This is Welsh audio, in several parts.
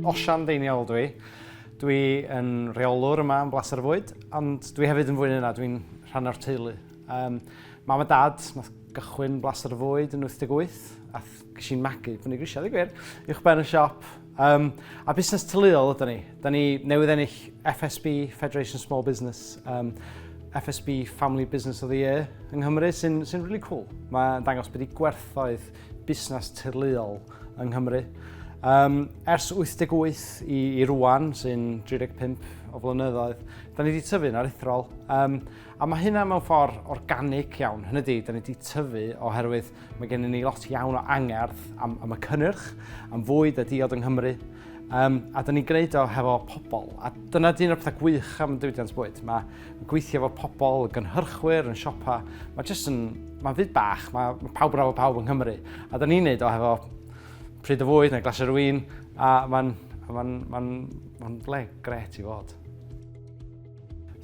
Osian Ddeiniol ydw i. Dwi yn rheolwr yma yn Blaser Fwyd, ond dwi hefyd yn fwy yna, dwi'n rhan o'r teulu. Um, mam a dad, nath gychwyn Blaser Fwyd yn 88, a Ges i'n magu prynu grisiau, ddigwyr, uwch ben y siop. Um, a busnes tyluol ydyn ni. Da ni newydd ennill FSB, Federation Small Business, um, FSB Family Business of the Year yng Nghymru, sy'n sy really cool. Mae'n dangos bod i gwerthoedd busnes tyluol yng Nghymru. Um, ers 88 i, i rwan, sy'n 35 o flynyddoedd, da ni wedi tyfu'n aruthrol. Um, a mae hynna mewn ffordd organic iawn. Hynny di, da ni wedi tyfu oherwydd Mae gennym ni lot iawn o angerdd am, am y cynnyrch, am fwyd a diod yng Nghymru, um, a dyn ni'n gwneud o hefo pobl. A dyna dyn o'r pethau gwych am diwydiant bwyd. Mae gweithio efo pobl, y gynhyrchwyr, yn siopa, mae jyst yn, mae'n fyd bach, mae, mae pawb yn efo pawb yng Nghymru. A dyn ni'n gwneud o hefo pryd o fwyd neu glas yr wyn, a mae'n ma, ma, ma, ma, ma le gret i fod.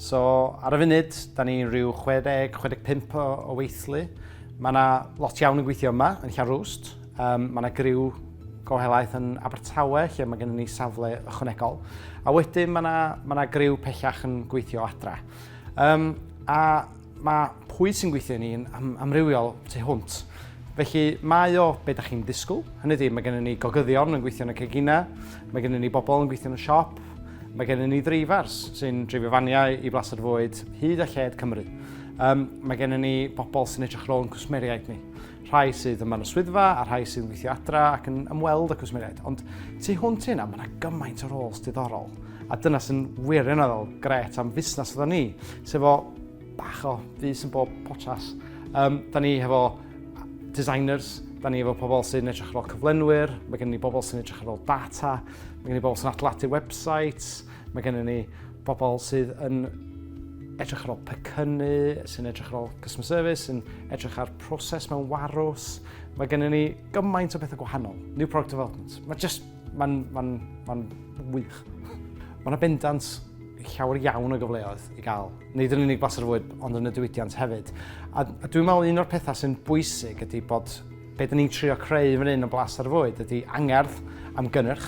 So, ar y funud, da ni rhyw 60-65 o, o weithlu. Mae yna lot iawn yn gweithio yma, yn Llanrwst. Um, mae yna griw go helaeth yn Abertawe, lle mae gennym ni safle ychwanegol. A wedyn mae yna, mae yna griw pellach yn gweithio adra. Um, a Mae pwy sy'n gweithio i ni yn amrywiol tu hwnt. Felly, mae o be da chi'n disgwyl. Hynny ydi, mae gennym ni gogyddion yn gweithio yn y ceginau, mae gennym ni bobl yn gweithio yn y siop, Mae gennym ni dreifars sy'n dreifio faniau i blaster fwyd hyd a lled Cymru. Um, mae gennym ni bobl sy'n edrych rôl yn cwsmeriaid ni. rhai sydd yma yn y swyddfa a rhai sydd yn gweithio adra ac yn ymweld y cwsmeriaid. Ond tu hwnt i hynna, mae yna gymaint o roles diddorol. A dyna sy'n wirioneddol gret am fusnes oedden ni, sef o bach o fus yn bob potas. Um, da ni hefo designers, da ni hefo pobl sy'n edrych ar ôl cyflenwyr, mae gen ni bobl sy'n edrych ar ôl data, mae gen ni bobl sy'n atlatu websites, mae gen ni bobl sydd yn edrych ar ôl pecynnu, sy'n edrych ar ôl customer service, sy'n edrych ar proses mewn warws. Mae gennym ni gymaint o bethau gwahanol. New product development. Mae just, mae'n ma ma wych. Mae yna bendant llawer iawn o gyfleoedd i gael. Nid yn unig blas ar fwyd, ond yn y diwydiant hefyd. A, a dwi'n meddwl un o'r pethau sy'n bwysig ydy bod be dyn ni'n trio creu fan hyn o blas ar fwyd ydy angerdd am gynnyrch.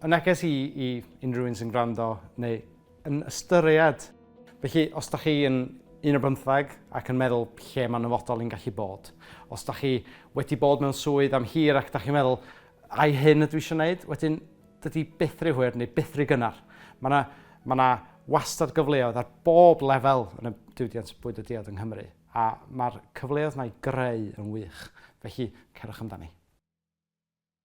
Y neges i i unrhyw un sy'n gwrando neu yn ystyried. Felly, os da chi yn un o bymtheg ac yn meddwl lle mae'n nyfodol i'n gallu bod. Os da chi wedi bod mewn swydd am hir ac da chi'n meddwl, ai hyn ydw i eisiau gwneud? Wedyn, dydy byth rhy hwyr neu byth rhy gynnar. Mae yna ma na wastad gyfleoedd ar bob lefel yn y diwydiant bwyd a diod yng Nghymru, a mae'r cyfleoedd yna i greu yn wych. Felly, cerwch amdani.